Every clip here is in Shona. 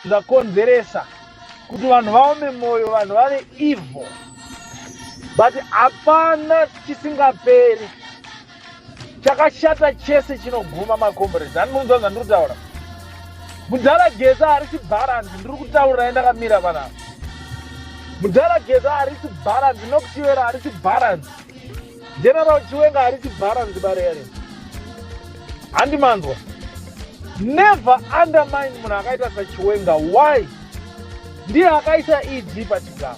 zvakonzeresa kuti vanhu vaome mwoyo vanhu vave evil but hapana chisingaperi chakashata chese chinoguma macomrades ani munonzwa zandiri kutaura mudhara geza harisi bharanzi ndiri kutaurirai ndakamira panapa mudhara geza harisi bharanzi nokuchivera harisi bharanzi general chiwenga harisi bharanzi barere handi manzwa never undermine munhu akaita sachiwenga why ndiye akaisa ed pachigaro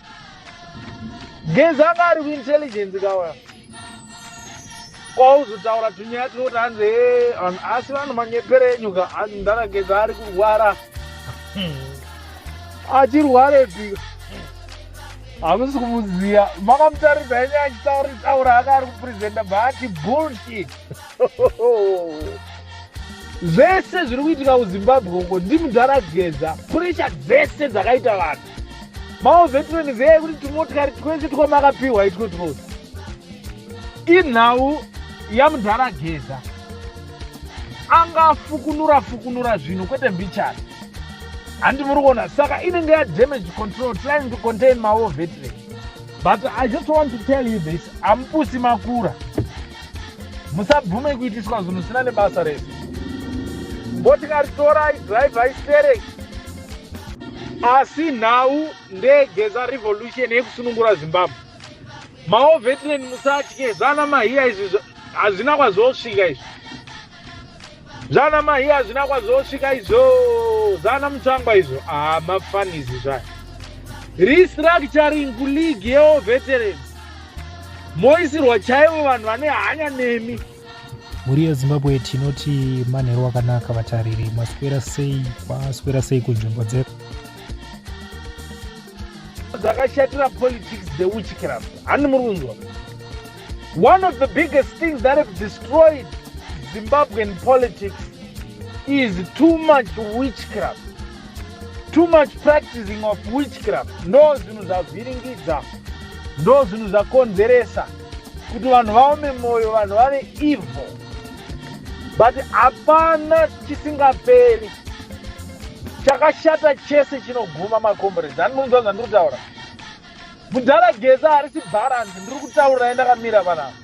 genzi anga ari kuintelligence kawaya kwauzotaura tunyaya tinoti hanzi eh, asi vanhu manyeperenyuka hanzi ndakageza ari kurwara hmm. achirwarepi hamusi kumuziva makamutaridza yenye achitaura taura aka ari kupresenta baati bullshit zvese zviri kuitika kuzimbabwe uko ndimudhara geza puresha dzese dzakaita vanhu maovetireni veye kuti tumotikari twese twamakapiwa itwo twose inhau yamudhara geza angafukunura fukunura zvinhu kwete mbichana handi muri kuona saka inenge yadamage control trying to contain mawo veteran but i just want to tell you this amupusi makura musabvume kuitiswa zvinhu zvisina nebasa rese motikari torai drive aistereki asi nhau ndegeza revolution yekusunungura zimbabwe mawo veteran musatye zvana mahiya izvi hazvina kwazosvika izvi zvana mahiya hazvina kwazosvika izvo zvana mutsvangwa izvo haa ah, mafanizi zvayo restructuring kuleague yeoveteran moisirwa chaivo vanhu vane hanya nemi mhuri yezimbabwe tinoti manheru akanaka vatariri maswera sei kwaswera sei kunzvimbo dzedu dzakashatira politics dzeuchikirama hani muri kunzwa one of the biggest things that have destroyed zimbabwean politics is too much witchcraft too much practicing of witchcraft ndo zvinhu zvavhiringidza ndo zvinhu zvakonzeresa kuti vanhu vaome mwoyo vanhu vave evil but hapana chisingaperi chakashata chese chinoguma macombrades ani munonzwa zvandiri kutaura mudhara geza harisi bharanzi ndiri kutaurira ye ndakamira vanavo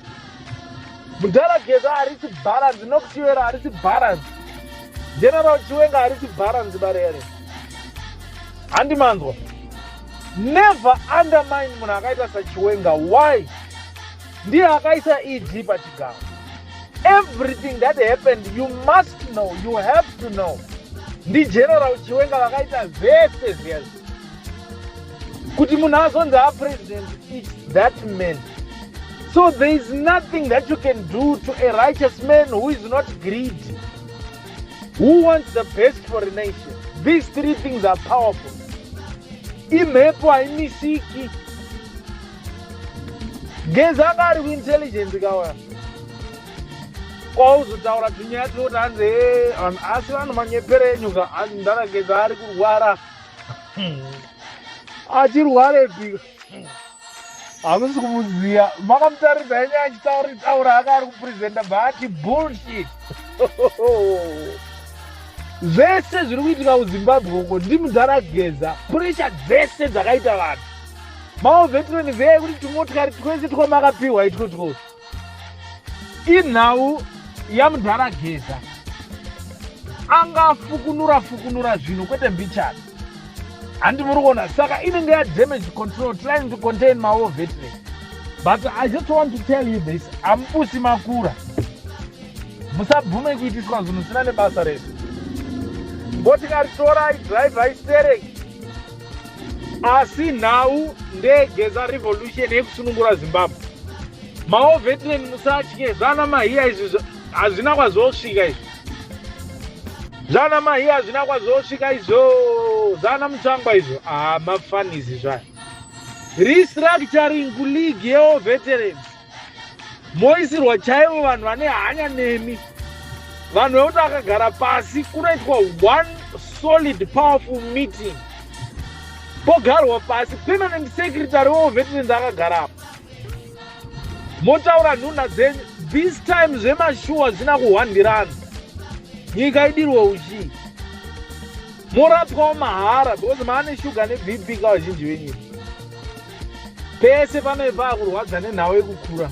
mudhara geza harisi bharanzi nokutiwera harisi bharanzi general chiwenga harisi bharanzi barere handi manzwa Never undermine munhu akaita sachiwenga why ndiye akaisa eg pachigaro everything that happened you must know you have to know ndigeneral chiwenga vakaita vese zviya zvi kuti munhu azonzi apresident its that man so there is nothing that you can do to a righteous man who is not greedy who wants the best for a nation these three things are powerful imhepo haimisiki gezi anga ari kuintelligence kawa kwauzotaura tunyaya tuoti hanzi eh, vanhu asi vanhu manyepere enyuka hanzi ndarageza ari kurwara achirwarepi hamusi kumuziva makamutarisa yenye achitauri taura aka ari kupresenta baati bullshit zvese zviri kuitika kuzimbabwe uko ndimudhara geza puresha dzese dzakaita vanhu maovetireni veye kuti tumotikari twese twamakapiwa itwo twose inhau yamudhara geza anga fukunura fukunura zvinhu kwete mbichana handi muri kuona saka inenge yadamage control trying to contain mawo vetry but i just want to tell you this amubusi makura musabvume kuitiswa zvinhu zvisina nebasa rese ngotikaritora idrive aistereki asi nhau ndeyegeza revolution yekusunungura zimbabwe maovetinen musatye zvana mahiya izvi hazvina kwazosvika izvi zvana mahiya hazvina kwazosvika izvo zvana mutsvangwa izvo haa ah, mafanizi zvayo restructuring kuleague yeoveterans moisirwa chaivo vanhu vane hanya nemi vanhu vekuti vakagara pasi kunoitwa one solid powerful meeting pogarwa pasi permanent secretary weovetinend akagarapo motaura nhunha dzenyu this time zvemashuwa zvina kuhwandirana nyika idirwe uchii morapwawo mahara because maane shuga nebp kavazhinji venyika pese panoipa akurwadza nenhau yekukura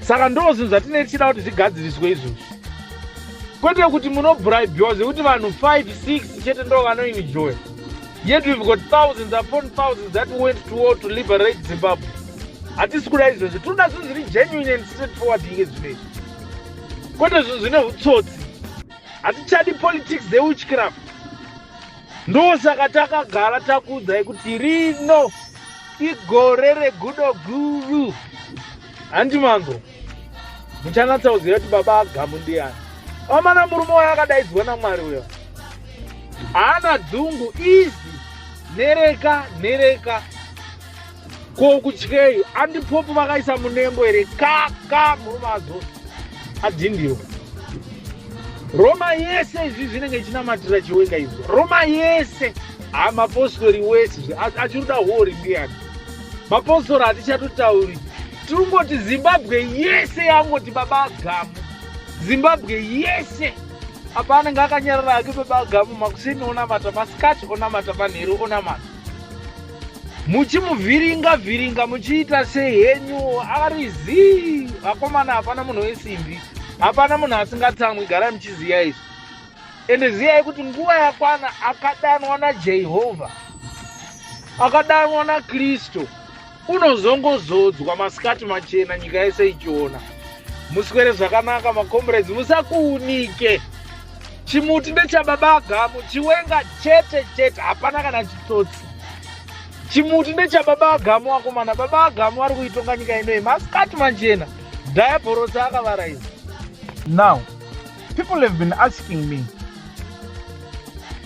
saka ndo zvinhu zvatinei tichida kuti zvigadziriswe izvozvo kwete kuti munobribhiwa zvekuti vanhu 5 6 chete ndo vanoinijoya yet we've got thousands upon thousands that went to war to liberate zimbabwe hatisi kuda izvozvo tinoda zvinhu zviri genuine and straight forward inge zvino izvi kwete zvinhu zvine utsotsi hatichadi politics zeuchcraft ndosaka takagara takuudzai kuti rino igore regudo guru handi mango muchanatsauzira kuti baba agamu ndiyani omana murume wayo akadaidzwa namwari uyo haana dzungu izi nereka nereka ko kutyei andipopu vakaisa munembo here ka ka murume azo adhindiwa roma yese izvi zvinenge ichinamatira chiwenga izvo roma yese ha mapostori wese zvi achiruda hori ndiyani mapostori hatichatotauri tirungoti zimbabwe yese yangoti baba agamu zimbabwe yese apa anenge akanyarara ake baba agamu makuseni onamata masikati onamata manheru onamata muchimuvhiringa vhiringa muchiita sei henyu ari zii vakomana hapana munhu wesimbi hapana munhu asingatsamwi garai muchiziva izvi ende ziyai kuti nguva yakwana akadanwa najehovha akadanwa nakristu unozongozodzwa masikati machena nyika yese ichiona muswere zvakanaka macomrades musakuunike chimuti ndechababa agamu chiwenga chete chete hapana kana chitsotsi chimuti ndechababa agamu wakomana baba agamu vari kuitonga nyika inoyi masikati manjena dhayabhorosi akavaraiza now people have been asking me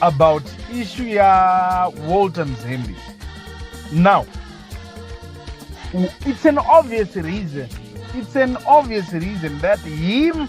about issue ya walter mzembi now it's an obvious reason it's an obvious reason that him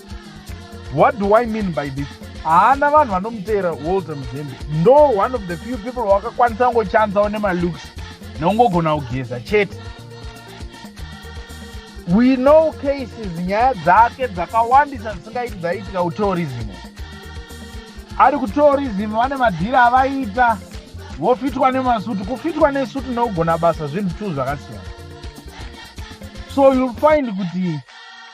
what do i mean by this haana vanhu vanomuteera walter muzembe ndo one of the few people wakakwanisa kungochanzawo nemalooks nokungogona kugeza chete we know cases nyaya dzake dzakawandisa dzisingaiti dzaiitika kutourism ari kutourism vane madhiri avaiita vofitwa nemasuti kufitwa nesuti nokugona basa zvinhu two zvakasiyana so youll find kuti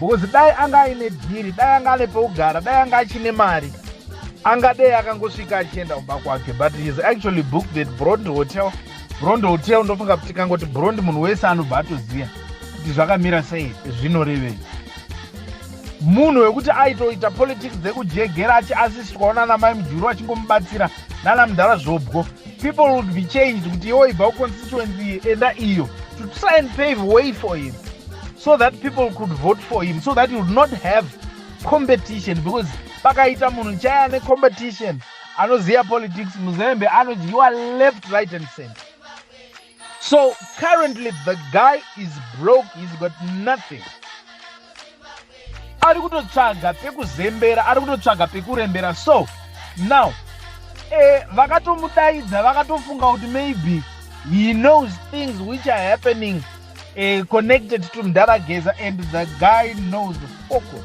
because dai anga aine dhiri dai anga ane peugara dai anga achine mari angadei akangosvika achienda kumba kwake but heis actually booked that brond hotel brond hotel ndofunga kuti kangoti brond munhu wese anobva atoziva kuti zvakamira sei zvinorevei munhu wekuti aitoita politics dzekujegera achiasistwawo nana mai mujuru achingomubatsira nana mudhara zvobwo people would be changed kuti iwo ibva kuconstituency iyi enda iyo to try and pave way for him so that people could vote for him so that he would not have competition because pakaita munhu chaya ane competition anoziva politics muzembe anodyiwa left right and center so currently the guy is broke he's got nothing ari kutotsvaga pekuzembera ari kutotsvaga pekurembera so now eh, vakatomudaidza vakatofunga kuti maybe he knows things which are happening eh, connected to mdara geza and the guy knows the focus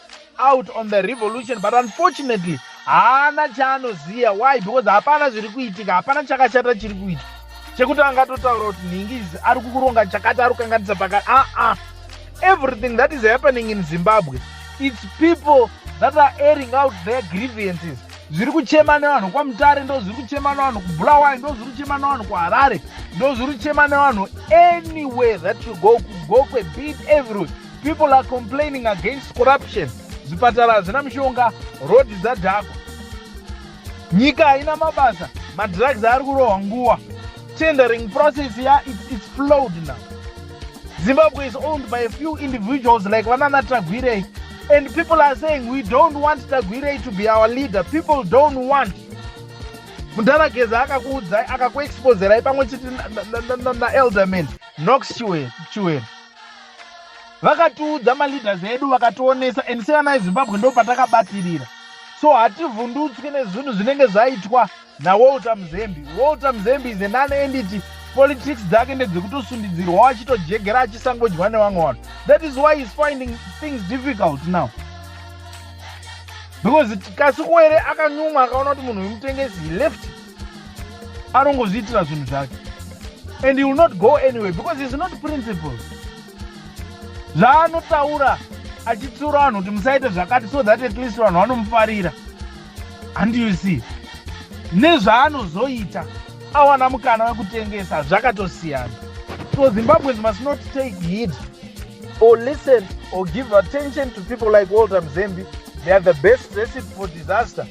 out on the revolution but unfortunately haana chaanoziva why because hapana zviri kuitika hapana chakashata chiri kuita chekuti angatotaura kuti nhingizi ari kukuronga chakati ari kukanganisa pakati aa ah, ah. everything that is happening in zimbabwe its people that are airing out their grievances zviri kuchema nevanhu kwamutare ndo zviri kuchema nevanhu kubulawayo ndo zviri kuchema nevanhu kuharare ndo zviri kuchema nevanhu anywhere that you go kugokwe beat everywhere People are complaining against corruption. Zvipatara hazvina mishonga, road dzadhakwa. Nyika haina mabasa, madrugs ari kurohwa nguva. Tendering process ya it's, it's flowed now. Zimbabwe is owned by a few individuals like Vanana Tagwirei. And people are saying we don't want Tagwirei to be our leader. People don't want mudhara geza akakuudzai akakuexposerai pamwe chete naelderman nox chiwere vakatiudza maleaders edu vakationesa and sevana vezimbabwe ndo patakabatirira so hativhundutswi nezvinhu zvinenge zvaitwa nawalter muzembi walter muzembi is an unendity politics dzake ndedzekutosundidzirwa wachitojegera achisangodyiwa nevamwe vanhu that is why is finding things difficult now because kasi kuwere akanyumwa akaona kuti munhu wemutengesi left anongozviitira zvinhu zvake and he will not go anyway because he's not principle zvaanotaura achitsiura vanhu kuti musaite zvakati so that at least vanhu vanomufarira and you see nezvaanozoita awana mukana wekutengesa zvakatosiyana so zimbabweans must not take heed or listen or give attention to people like walter mzembi they are the best recipe for disaster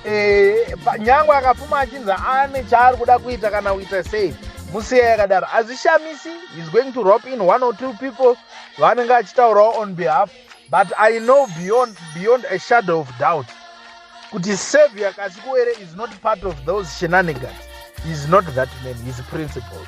eh, nyangwe akapfuma achinzi ane chaari kuda kuita kana kuita sei musiya yakadaro hazvishamisi he's going to rop in one or two people vanenge achitaurawo on behalf but i know beyond, beyond a shadow of doubt kuti savior kasikuwere is not part of those shenanigans is not that man his principles